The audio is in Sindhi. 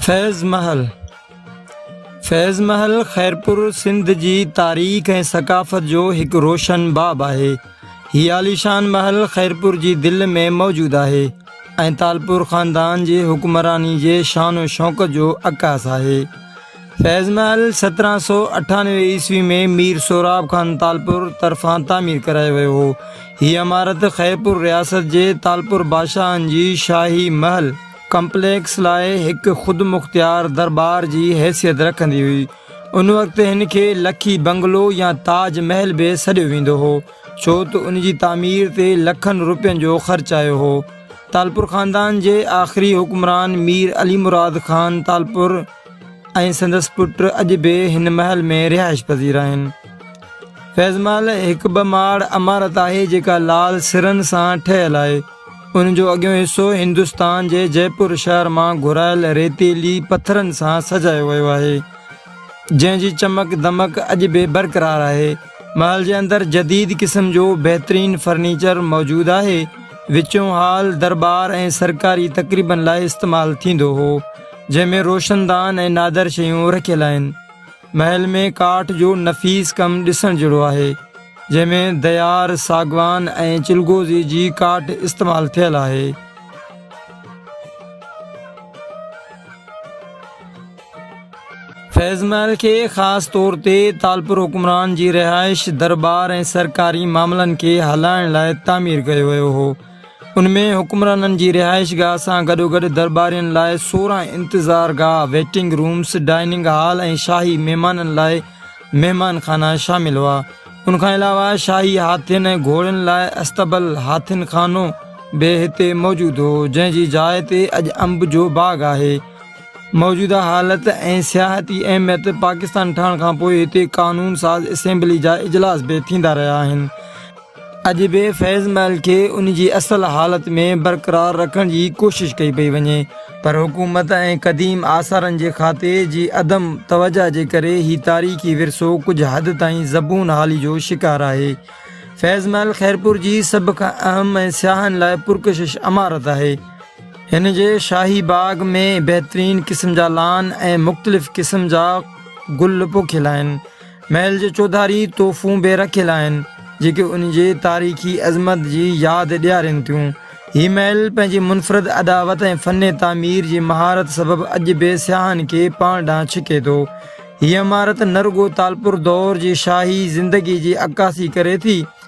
فيض محل، فيض محل خيرپور سنڌ جي تاريخ ۽ ثقافت جو هڪ روشن باب آهي. هي عاليشان محل خيرپور جي دل ۾ موجود آهي ۽ تالپور خاندان جي حڪمراني جي شان و شوڪت جو عڪاس آهي. فيض محل سترهن سؤ اٺانوي عيسوي ۾ مير سهراب خان تالپور طرفان تعمير ڪرايو ويو هو. هيء عمارت خيرپور رياست جي تالپور بادشاهن جي شاهي محل ڪمپليڪس لاء هڪ خودمختيار درٻار جي حيثيت رکندي هئي. ان وقت هن کي لکي بنگلو يا تاج محل به سڏيو ويندو هو، ڇو ته ان جي تعمير تي لکن روپين جو خرچ آيو هو. تالپور خاندان جي آخري حڪمران مير علي مراد خان تالپور، ۽ سندس پٽ اڄ به هن محل ۾ رهائش پذير آهن فيض محل هڪ ٻه ماڙ عمارت آهي جيڪا لال سرن سان ٺهيل آهي ان جو اڳيون حصو هندستان جي جي پور شهر مان گهرايل ريتيلي پٿرن سان سجايو ويو آهي جنهن جي چمڪ دمڪ اڄ به برقرار آهي محل جي اندر جديد قسم جو بهترين فرنيچر موجود آهي وچون هال دربار ۽ سرڪاري تقريبن لاء استعمال ٿيندو هو جنهن ۾ روشندان ۽ نادر شيون رکيل آهن. محل ۾ ڪاٺ جو نفيس ڪم ڏسڻ جهڙو آهي، جنهن ۾ ديار، ساگوان ۽ چلغوزي جي ڪاٺ استعمال ٿيل آهي. فيض محل کي خاص طور تي تالپور حڪمران جي رهائش، درٻار ۽ سرڪاري معاملن کي هلائڻ لاء تعمير ڪيو ويو هو. ان ۾ حڪمرانن جي رهائش گاهه سان گڏوگڏ درٻارين لاء سورهن انتظار گاهه، ويٽنگ رومس، ڊائننگ هال ۽ شاهي مهمانن لاء مهمان خانا شامل هئا. ان کان علاوه شاهي هاٿين ۽ گهوڙن لاء اصطبل، هاٿين خانو، به هتي موجود هو، جنهن جي جاء تي اڄ انب جو باغ آهي. موجوده حالت ۽ سياحتي اهميت پاڪستان ٺهڻ کانپوء هتي قانون ساز اسيمبلي جا اجلاس به ٿيندا رهيا آهن. اڄ به فيض محل کي ان جي اصل حالت ۾ برقرار رکڻ جي ڪوشش ڪئي پئي وڃي پر حڪومت ۽ قديم آثارن جي کاتي جي عدم توجهه جي ڪري هي تاريخي ورثو ڪجهه حد تائين زبون حالي جو شڪار آهي. فيض محل خيرپور جي سڀ کان اهم ۽ سياحن لاء پرڪشش عمارت آهي. هن جي شاهي باغ ۾ بهترين قسم جا لان ۽ مختلف قسم جا گل پوکيل آهن. محل جي چوڌاري توفون به رکيل آهن، جيڪي ان جي تاريخي عظمت جي ياد ڏيارين ٿيون. هي محل پنهنجي منفرد اڏاوت ۽ فن تعمير جي مهارت سبب اڄ به سياحن کي پاڻ ڏانهن ڇڪي ٿو. هيء عمارت نه رڳو تالپور دور جي شاهي زندگي جي عڪاسي ڪري ٿي،